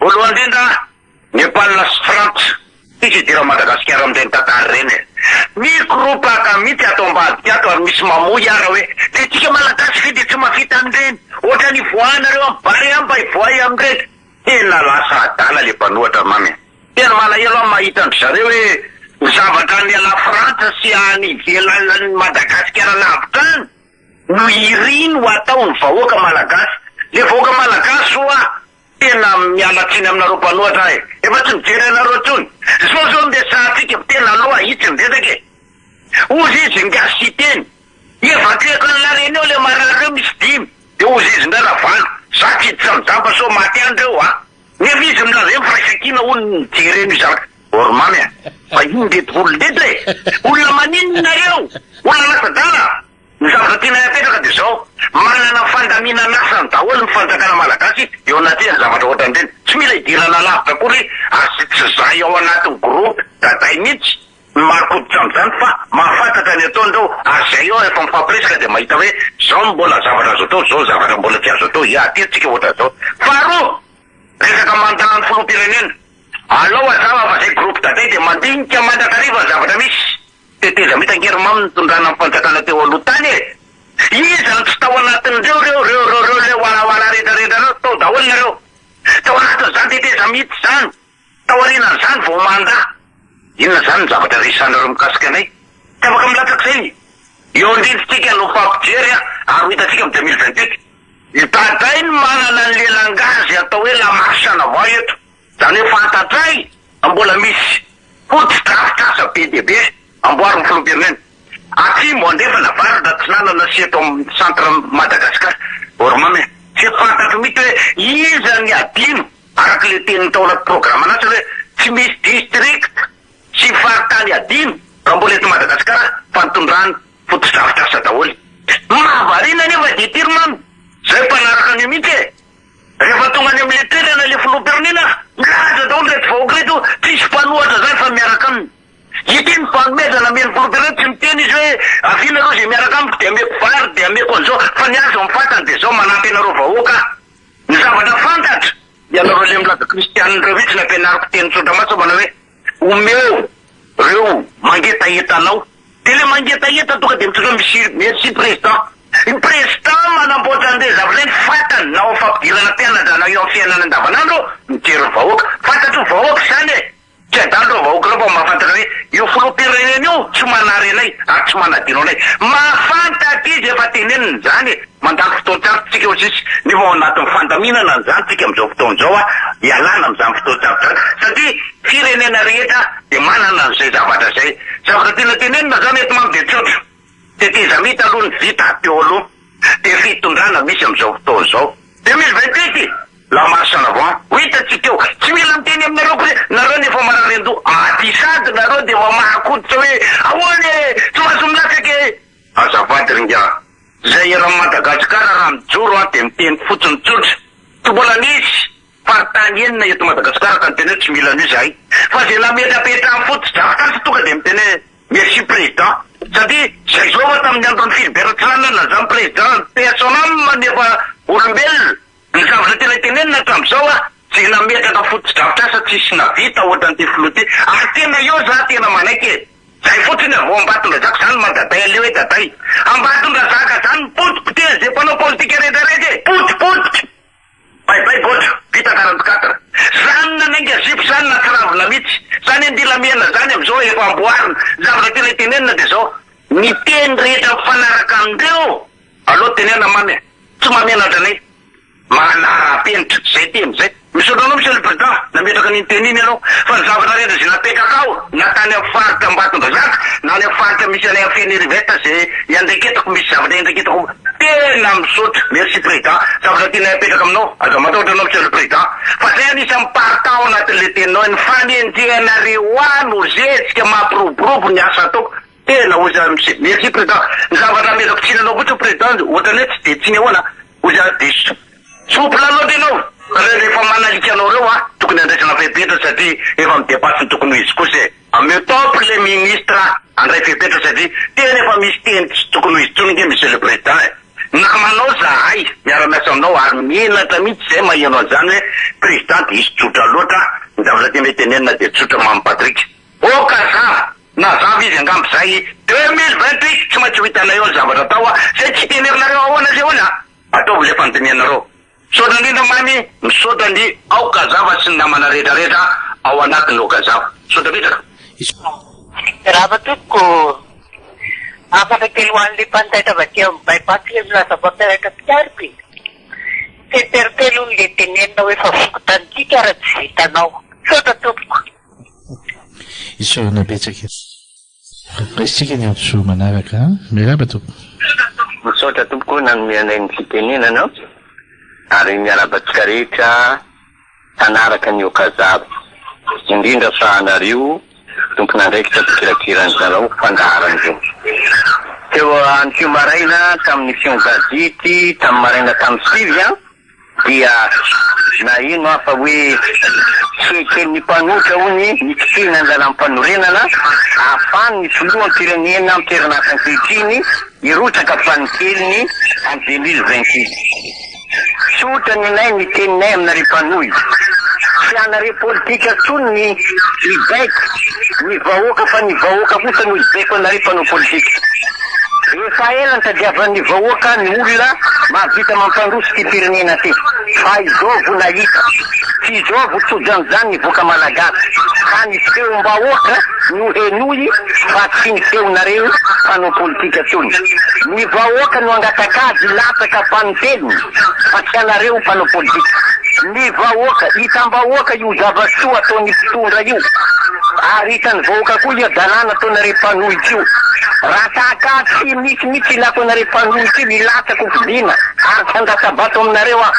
Voalohany indrindra. Nepal sy Frantsa tsy misy idiran'i Madagasikara amin'ireny tantara ireny e! Mikoropaka mihitsy ato ambadika ato ary misy mamoy ara hoe le antsika Malagasy ve dia tsy mafita an'ireny? Ohatrany hivoahanareo amin'ny barea any mba hivoahay amin'ireny? Tena lasa adala le mpanohatra mamy e! Tena malahelo aho mahita an-dry zareo hoe ny zavatra any la Frantsa sy any ivelan'ny Madagasikara lavitra any no iriny ho ataon'ny vahoaka Malagasy! Le vahoaka Malagasy ho'a Tena miala tsiny aminareo mpanohatra ahy efa tsy mijery anareo intsony zao zao ny resahantsika tena aloha itsy ny resaka e ozy izy ngasy hiteny evacuer-ko any la reunion le marary reo misy dimy de ozy izy ndray la valo za tsy hiditra mizamba sao maty any reo a nefa izy milaza eny firaisankina hono ny mijery an'io zaka or mamy a fa iny ndreto volon'dreto e olona maninona nareo olona lasadala. Ny zavatra tianay apetraka dia izao, manana fandaminan'asany daholo ny fanjakana malagasy eo anatrehan'ny zavatra ohatran'ireny. Tsy mila hidirana alavitra akory ary tsy tsy zahay ao anatin'ny groupe daday mihitsy no marin-koditra amin'izany fa mahafantatra ny ataony ireo ary izay eo efa mifampiresaka dia mahita hoe izao no mbola zavatra azo atao, izao ny zavatra mbola tsy azo atao, hiady kely tsika ohatran'izao. Faharoa, resaka mandat ny filoham-pirenena, alao hazava fa izay groupe daday dia mandinika mandrakariva ny zavatra misy. Teteza mitan-kerimamy nitondrana ny fanjakana teo aloha tany e! Iza no tsy tao anatin'ireo reo reo reo reo ilay warawara rehetra rehetra ireo tao daholo nareo! Tao anatin'izany teteza mihitsy izany! Taorianan'izany vao mandà! Inona izany ny zavatra resahanareo mikasika anay? Tsy afaka milatsaka izay ny eo andrintsika no fampijery a! Ary ho hitantsika am deux mille vingt huit! Ny Daday no manana ny lelangazy atao hoe la marche en avant eto! Zany hoe fantatray fa mbola misy fotodrafitrasa be dia be amboarin'ny filoham-pirenena atsimo andrefana avaratra atsinanana sy eto amin'ny centre Madagascar Ormam e! Tsy fantatro mihitsy hoe iza ny adino araka ilay tenin'ny tao anaty programme an'asa hoe tsy misy district sy faritany adino raha mbola eto Madagascar fa nitondran fotodrafitrasa daholo. Ny mahavariana anefa dia ity ry mamy, zay mpanaraka an'io mihitsy e! Rehefa tonga any amin'ny toerana ilay filoham-pirenena, milaza daholo ireto vahoaka ireto hoe tsisy mpanohatra izany fa miaraka aminy. Ity ny fanomezana amen'ny filoham-pirenena, tsy miteny izy hoe avia nareo izay miaraka amiko dia ameko vary dia ameko an'izao fa ny ahy izao ny fantany dia izao, manampy anareo vahoaka aho. Ny zavatra fantatra, ianareo ilay milaza kristianina ireo mihitsy nampianariko teny tsotra mantsy manao hoe. Omeo reo mangetaheta anao de le mangetaheta tonga de mitondra miss merci président ny président manamboatra anle zavalenty fantany na ao fampidirana mpianatra na eo am fiainana andavanandro mijery ny vahoaka fantatry ny vahoaka izany e tsy adalo reo vahoaka reo fa mahafantatra hoe io filohampirenena io tsy manary anay ary tsy manadino anay mahafantatra izy efa teneniny izany e. Mandalo fotoan-tsarotra isika hoy sisa, nefa ao anatin'ny fandaminana an'izany isika amin'izao fotoana izao hialana amin'izany fotoan-tsarotra izany, satria firenena rehetra dia manana an'izay zavatra izay. Zavatra tiana tenenina izany eto manko dia tsotra, tetezamita aloha ny vita teo aloha, dia fitondrana misy amin'izao fotoana izao. 2028 i la marche en avant ho hitantsika eo, tsy mila miteny aminareo akory, nareo no efa marary an-doha, ady sady nareo dia mamaha koditra hoe ahoana e, tsy mahazo milatsaka e! Azafady ry ingahy. Zay eran'i Madagasikara raha mijoro an dia miteny fotsiny tsotra tsy mbola nisy faritany enina eto Madagasikara ka miteny hoe tsy mila an'io zahay fa zay nametrapetrany fotsy drafitrasa tonga dia miteny hoe merci président satria zay zao efa tamin'ny andron'i Philbert Tsiranana na zany président paix à son âme nefa olombelona ny zavatra tena tenenina hatramizao an zay nametraka fotodrafitrasa tsisy navita ohatran'ity filoha ity ary tena eo za tena manaiky e. Zay fotsiny avy ao Ambatondrazaka zany Madaday aleo e Daday Ambatondrazaka zany mipoty poteha ze mpanao politika rehetra raiky e poty poty Bay bay gotra vita quarante quatre zany nanainga zipo zany natsiravina mitsy zany e ndilamihana zany amzao efa amboarina ny zavatra tena itenenina de zao ny teny rehetra mifanaraka amindreo aleo tenena mamy e tsy mahamenatra anay. Manarapenitra izay teny izay. Misaotra anao Monsieur le Président nametraka an'iny teny iny ianao fa ny zavatra rehetra izay napetrak ao na tany amin'ny faritra Ambatondrazaka na any amin'ny faritra misy anay any Fenerivet izay iandraiketako misy zavatra iandraiketako tena misaotra merci Président zavatra tianay apetraka aminao aza matahotra anao Monsieur le Président fa zay anisan'ny part ao anatin'ilay teninao ny fanenjehanareo ahy no zezika mampiroborobo ny asa ataoko Tena ozy ary msi. Merci president. Ny zavatra amezako tsiny anao fotsiny president ohatrany hoe tsy dia tsiny ahoana an. Ozy ary diso. Souple loatra ianao reo rehefa manalika anao reo an, tokony andraisana fepetra satria efa midepasse ny tokony ho izy kosa e. Ameo top le ministre andray fepetra satria tena efa misy teny tsy tokony ho izy tsony nge monsieur le president e. Namanao zahay miara miasa aminao ary menatra mitsy zay maheno anzany hoe president diso tsotra loatra an, ny zavatra tianay tenenina dia tsotra Mamy Patrick. Oh kazà! Mazava izy angamba izay e! Deux mille vingt huit tsy maintsy ho hitanay eo ny zavatra atao a! Zay tsy tenerinareo ahoana sy ahoana a! Ataovy le fandinihanareo! Misaotra indrindra Mamy, misaotra ny ao Kazava sy ny namana rehetra rehetra ao anatiny ao Kazava. Misaotra betsaka. Miarahaba tompoko ô! Hafatra kely ho an'ilay mpanjaitra avy aty amin'ny Bypass ilay milaza mpampianatra mpitarika e! Tsy interpelle hono ilay tenenina hoe fa voky tanintsika ary tsy vitanao. Misaotra tompoko. Isaorana betsaka e. Raisintsika ny hadisoa manaraka an. Miarahaba tompoko. Misaotra tompoko nanome anay ny fitenenana ary miarahaba antsika rehetra mpanaraka ny Okazab, indrindra fa anareo tompon'andraikitra mpikirakira ny lalao fandaharana io. Teo anio maraina tamin'ny fiongadidy tamin'ny maraina tamin'ny sivy an! Dia naheno aho fa hoe, Tsy eken'ny mpanohitra, hono, ny kitihina ny lalàm-panorenana ahafahan'ny filoham-pirenena an-toeran'asa ankehitriny hirotsaka fanikelin'ny en 2026. Tsotra ny anay ny teninay aminareo mpanohy. Tsy anareo politika intsony ny hibaiko ny vahoaka fa ny vahoaka kosa no hibaiko anareo mpanao politika. Efa ela nitadiavan'ny vahoaka ny olona mahavita mampandroso ity firenena ity fa izao vo nahita. Tsy izao vo tojanjan ny voka malagasy ka ny feom-bahoaka no henoy fa tsy ny feonareo mpanao politika tsony. Ny vahoaka no angatak'ady hilatsaka fanintelony fa tsy anareo mpanao politika. Ny vahoaka, hitam-bahoaka io zava-tsoa ataon'i mpitondra io ary hitan'ny vahoaka koa ia dalàna ataon'i. Ilako anareo mpanohitra io. Raha tahaka ahy tsy misy mihitsy ilako anareo mpanohitra io hilatsaka ho fidiana ary tsy handatsa-bato aminareo aho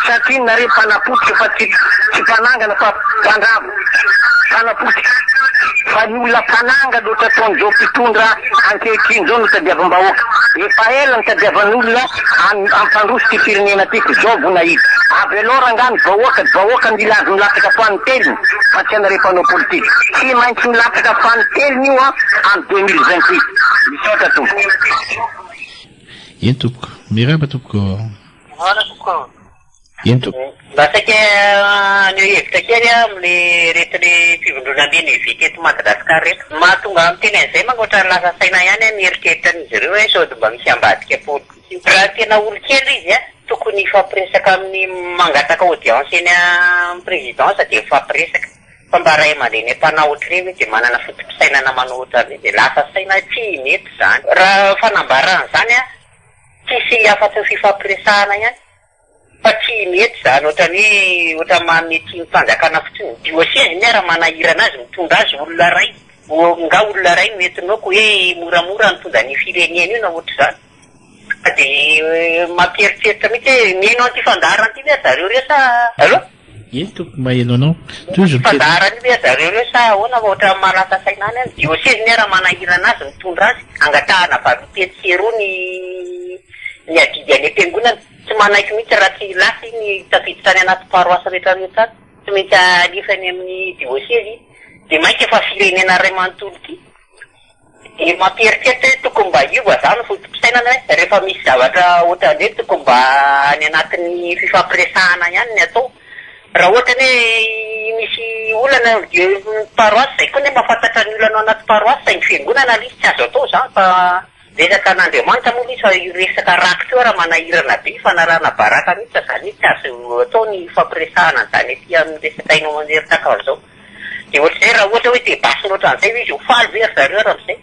satria nareo mpanapotika fa tsy tsy mpanangana fa mpandrava. Mpanapotika. Fa ny olona mpanangana ohatr'ataon'izao mpitondra ankehitriny izao no tadiavam-bahoaka. Efa ela nitadiavan'olona. An ampandroso ty firenena ty ko zao vo nahita avy alou rangah ny vahoaka dy vahoaka mila azy milatsaka fany telony fa tsy anareo mpanao politika tsy maintsy milatsaka fany telony io an am deux mille vingt huit misaotra tompoko. Eny tompoko. Miraba tompoko. ento. Mba saika haneho hevitra kely aho amin'le reto le fivondrona Menevi teto Madagascar reto. Ny mahatonga ahy miteny an'izay mangoatra ny lasa saina ihany aho mieritreritra an'izy ireo hoe sao dia mba misy ambadika politika. Raha tena olon-kely izy a, tokony hifampiresaka amin'ny mangataka audience eny amin'ny présidence dia mifampiresaka. Fa mba ray aman-dreny mpanao ohatry ireny dia manana foto-pisainana manao ohatran'ny hoe dia lasa saina tsy mety izany. Raha fanambarana izany a, tsy hisy afa-tsy ny fifampiresahana ihany. Fa tsy mety zany otrany hoe otrany manome tsiny fanjakana fotsiny ny dioseze ny raha manahirana azy mitondra azy olona ray nga olona ray no entinao ko hoe moramora nitondra anio firenena io na otrzany fa de mampieritreritra mitsy hoe mihaino anty fandaharana ty ve ry zareo reo sa allo. Eny tompoko maelo anao. Tohizo ny fehezanteny. Mpandaharan io ve zareo reo sa ahoana fa otrany mahalasa saina any an. Dioseny miara manahirana azy mitondra azy angatahana valompy etsy sy eroa ny ny adidy any am-piangonana. Tsy manaiky mihitsy raha tsy lasa iny tafiditra any anaty paroasy rehetra rehetra any. Tsy maintsy alefa any amin'ny dioseny iny. Dia mainka fa firenena iray manontolo ity. Dia mampieritreritra hoe tokony mba hiova zah ny fotopisainana hoe rehefa misy zavatra otran'zay tokony mba any anatin'ny fifampiresahana ihany ny atao. Raha ohatra ny hoe misy olana eo amin'ny paroisse zay koa ny hoe mahafantatra ny olana ao anaty paroisse saingy fiangonana ilay izy tsy azo atao izany fa resaka an'Andriamanitra moa ilay izy fa io resaka rakotra io ary manahirana be fanarahana baraka mihitsy izany hoe tsy azo atao ny hifampiresahana an'izany aty amin'ny resaka haino aman-jery tahaka an'izao. Dia ohatr'izay raha ohatra hoe te basy mihoatra an'izay ve izy ho faly ve ry zareo raha amin'izay?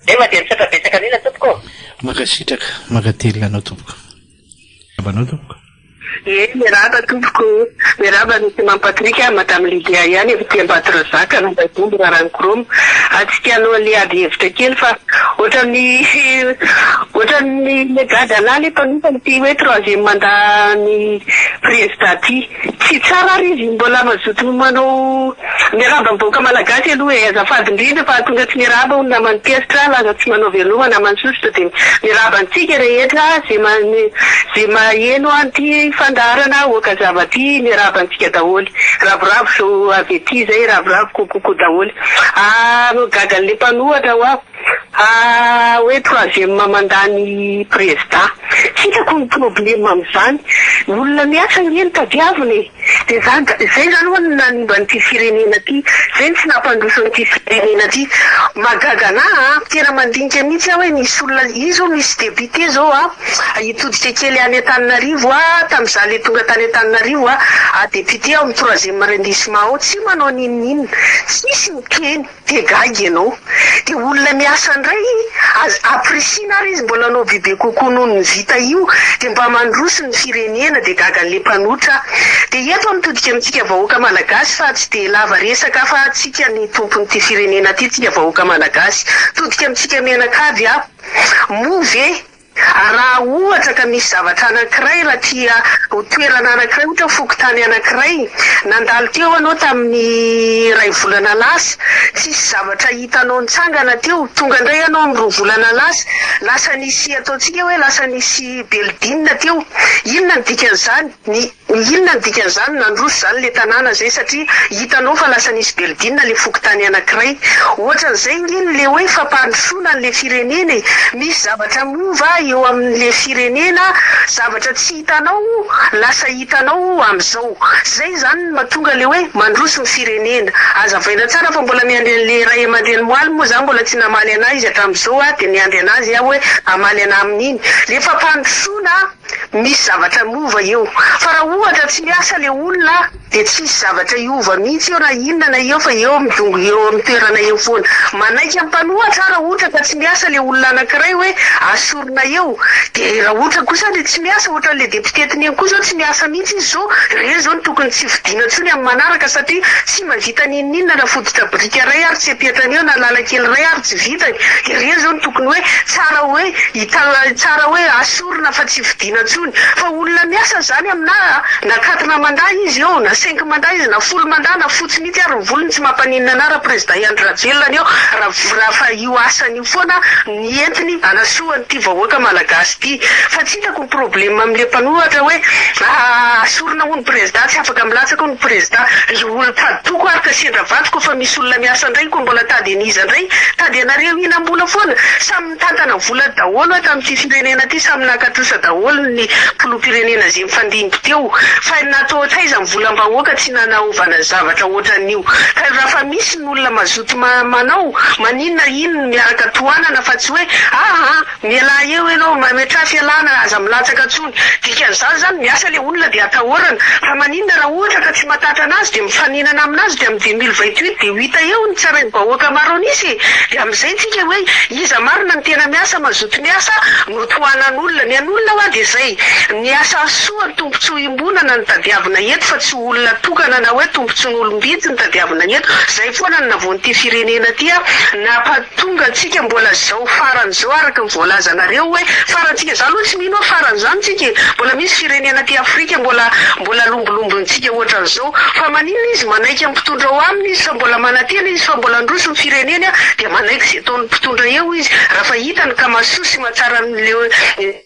Zay mandeha misaotra betsaka an'ila tompoko ô! Mankasitraka, mankatelina anao tompoko. Miarahaba anao tompoko. Ee miarahaba tompoko o! Miarahaba an'i Simam Patrick a, Madame Lydia ihany avy aty Ambatorazaka, Anambavombo, Raranikoroma. Hatsika alohan'ny hiady hevitra kely fa ohatran'ny ohatran'ny le gadalà le mpanompan'ity hoe troisième mandat ny prezidà ty. Tsy tsara ary izy mbola mazoto manao miarahaba ny vahoaka malagasy aloha e! Azafady indrindra fa tonga tsy miarahaba hono naman'i Kesitra laza tsy manao veloma naman'i Sosotra dia miarahaba antsika rehetra ze mane ze maheno an'ity fandaharana Aoka zava ty miarahaba antsika daholo ravoravo avy aty zay ravoravo coucou daholo ah gaga le mpanohatra ho'aho. Ha hoe troisième mandany prezda. Tsy hitako ny problème amin'izany. Ny olona miasa ange no tadiavina e. Dia izany da izay izany ho'a no nanimba an'ity firenena ity. Izay no tsy nampandroso an'ity firenena ity. Mahagaga anah a. Tena mandinika mihitsy aho hoe nisy olona, io zao misy député izao a, hitodika kely any Antananarivo a, tamin'izaho le tonga tany Antananarivo a, ah député ao amin'ny troisième arrondissement ao, tsy manao n'inon'inona. Tsisy mikeny. Dia gaga ianao. Dia olona miasa indray az appreciana ary izy mbola anao bebe kokoa noho ny vita io dia mba mandroso ny firenena dia gaga anle mpanotra dia eto mitodika amintsika vahoaka malagasy fa tsy dia lava resaka fa tsika ny tompon'ity firenena ity tsika vahoaka malagasy todika amintsika mianakavy ah moa ve Raha ohatra ka misy zavatra anankiray, raha tia ho toerana anankiray, ohatra hoe fokontany anankiray, nandalo teo ianao tamin'ny iray volana lasa, tsisy zavatra hitanao nitsangana teo, tonga indray ianao amin'ny roa volana lasa, lasa nisy, ataontsika hoe lasa nisy building teo, inona no dikan'izany? Ny. Inona ny dikan'izany? Nandroso izany ilay tanàna izay satria hitanao fa lasa nisy belodinina ilay fokontany anankiray. Ohatran'izay ange ny ilay hoe fampandrosoana an'ilay firenena e! Misy zavatra miova eo amin'ilay firenena, zavatra tsy hitanao lasa hitanao amin'izao. Izay izany no mahatonga ilay hoe mandroso ny firenena. Azavaina tsara fa mbola miandry an'ilay ray aman-dreny Moaly moa izaho mbola tsy namaly anà izy hatramin'izao aho dia miandry an'azy aho hoe hamaly anà amin'iny. Ilay fampandrosoana! Misy zavatra lova eo. Fa raha ohatra tsy miasa le olona dia tsy hisy zavatra hiova mihitsy eo na inona na eo fa eo midongy eo amin'ny toerana eo foana. Manaiky amin'ny mpanohatra aho raha ohatra ka tsy miasa le olona anankiray hoe asorina eo. Dia raha ohatra kosa le tsy miasa ohatran'le député tineny koa zao tsy miasa mihitsy izy zao, ireny zao no tokony tsy vidiana intsony amin'ny manaraka satria tsy mba vita n'inon'inona na fototra biriky iray ary tsy ampiatrany eo na lalan-kely iray ary tsy vitany. Ireny zao no tokony hoe tsara hoe tsara hoe asorina. Orina fa tsy fidiana intsony. Fa olona miasa izany aminà a! Na quatre mandats izy eo, na cinq mandats izy, na folo mandats, na fotsy mihitsy ary ny volony tsy mampaninona anà Raprezidan Andry Rajoelina ny eo raha fa io asany io foana ny entiny hanasoa an'ity vahoaka Malagasy ity. Fa tsy hitako ny problema amin'ilay mpanohatra hoe aah sorona hono Prezidà, tsy afaka milatsaka hono Prezidà. Ry olon-tady toko ary ka sendra vato koa fa misy olona miasa indray koa mbola tady an'iza indray? Tady anareo hinam-bola foana? Samy. Mitantana vola daholo ato amin'ity firenena ity samy naka trosa daholo ny filoham-pirenena ze nifandimby teo fa natao ohatraiza ny volam-bahoaka tsy nanaovana zavatra ohatran'io ka raha fa misy ny olona mazoto manao maninona iny ny miaraka tohanana fa tsy hoe aa mialà eo ianao mametraha fialana aza milatsaka tsony dikan'izany zany miasa le olona dia atahorana fa maninona Inona raha ohatra ka tsy matatra anazy dia mifaninana aminazy dia amin'ny dix mille vingt huit dia ho hita eo ny tsy harain'ny vahoaka maro anisy e! dia amin'izay tsika hoe iza marina no tena miasa mazoto miasa no tohanan'olona ny an'olona hoa dia zay ny asa soa ny tombotsoa iombonana no tadiavina eto fa tsy olona tokana na hoe tombotsoan'olom-bitsy no tadiavina eto zay foana no navoan'ity firenena ty a! Tonga antsika mbola zao farany zao araka ny voalazanareo hoe farantsika za aloha tsy mino hoe farany zany tsika e mbola misy firenena aty afrika mbola mbola lombolombontsika ohatran'zao fa maninona izy manaiky ny mpitondra ao aminy izy fa mbola manantena izy fa mbola handroso ny fireneny an dia manaiky ze ataon'ny mpitondra eo izy rafa hitany ka masoa sy mahatsara anle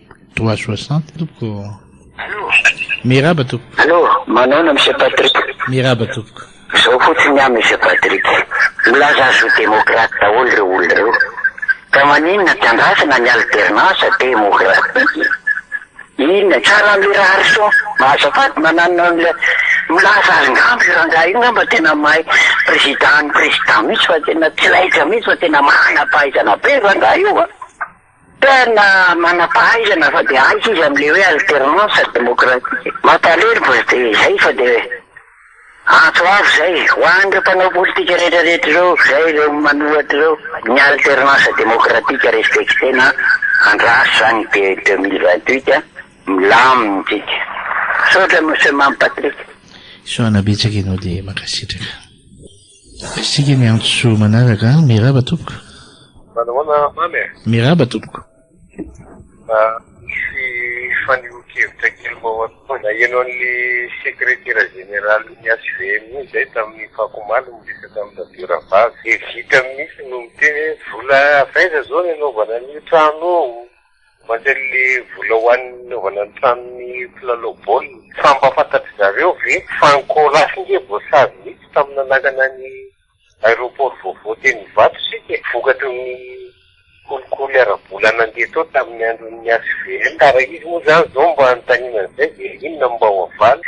Droit soixante tompoko. Allô. Miraba tompoko. Allô, manaona Monsieur Patrick. Miraba tompoko. Zao fotsiny an Monsieur Patrick, milaza azy ho démocrate daholo reo olona reo, ka maninona tsy andrasana ny alternance démocratique, inona, tsara anle Raharison, azafady mananona anle milaza azy ngamba io rangahy io ngamba tena mahay président ny président mihitsy fa tena tsy laitra mihitsy fa tena manam-pahaizana be io rangahy io an. Tena manampahaizana fa dia aiza izy amin'ilay hoe alternance démocratique. Mampalahelo fa dia izay fa dia antso avo izay ho an'ireo mpanao politika rehetra rehetra ireo izay ireo manohatra ireo, ny alternance démocratique respecter-na andraso izany dia deux mille vingt huit milamina isika. Misaotra Monsieur Mamy Patrick. Soa anabetsaka ianao dia mankasitraka. Isika miantso manaraka. Miraba tompoko. Manao ahoana mamy a? Miraba tompoko. Mba misy fanehoan-kevitra kely mahory koa. Naheno an'le sekretera jeneralin'ny HVM iny zay tamin'ny fako omaly miresaka amin'i Radio Rahavavy. Dia vitany mihitsy no miteny hoe vola avy aiza zao ny anaovana an'io trano io? Mandray le vola ho an'ny nanaovana ny tranon'ny mpilalao baolina. Fa mba fantatry zareo ve fa ny Coras nge voasazy mihitsy tamin'ny nanangana ny aeroport vaovao teny Ivato isika e. Vokatry ny kolikoly ara-bola nandeha tao tamin'ny andron'ny HVL. Ka raha izy moa zany zao mba anontaniana an'izay dia inona no mba ho avaly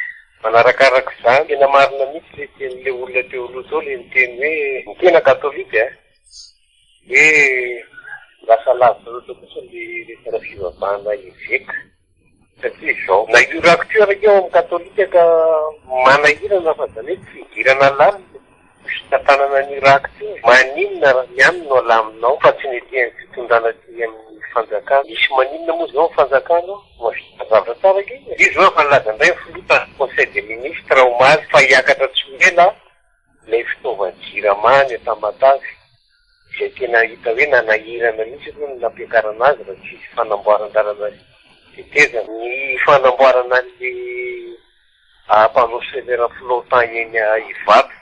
manarakaraka izany. Tena marina mihitsy le tenin'le olona teo aloha teo le niteny hoe ny tena katolika a. Hoe lasa lavitra loatra kosa ny resaka fivavahana eveka satria izao na io rakotiora io ao amin'ny katolika ka manahirana fa izany hoe tsy idirana lalina ny fitantanana an'io rakotiora, maninona raha ny any no alaminao fa tsy ny ety amin'ny fitondrana aty amin'ny fanjakana, misy maninona moa izao ny fanjakana ao? Mahavita zavatra tsara ange izy. Io izao efa nilaza indray ny filoha tamin'ny conseil des ministres omaly fa hiakatra tsy ho ela. Ilay fitaovan-jirama any Tamatave izay tena hita hoe nanahirana mihitsy aloha ny nampiakarana azy raha tsy izy fanamboaran-dalana tetezana. Ny fanamboarana an'ilay panneau solaire flottant eny Ivato,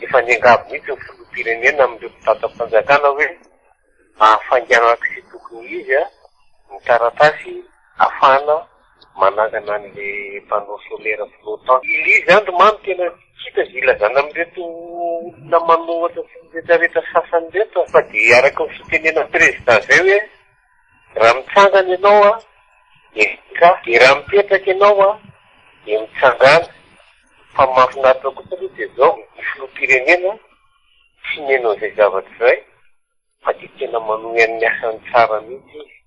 efa niangavy mihitsy ny filoham-pirenena amin'ireo mpitantram-panjakana hoe. Hahafainganana izay tokony ho izy ny taratasy hahafahana manangana an'ilay panneau solaire flottant. Ilay izy andry mamy tena hita izay ilazana amin'ireto olona manohatra sy miretraretra sasany ireto fa dia araka ny fitenenan'ny prezida izay hoe raha mitsangana ianao dia mitsra dia raha mipetraka ianao dia mitsangana fa mahafinaritra kosa aloha dia izao ny filoham-pirenena Tsy nihaino an'izay zavatra izay fa dia tena manohy amin'ny asany tsara mihitsy izy.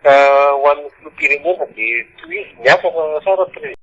Ka ho an'ny filoham-pirenena dia tohizo ny asa fa sao raha prezida.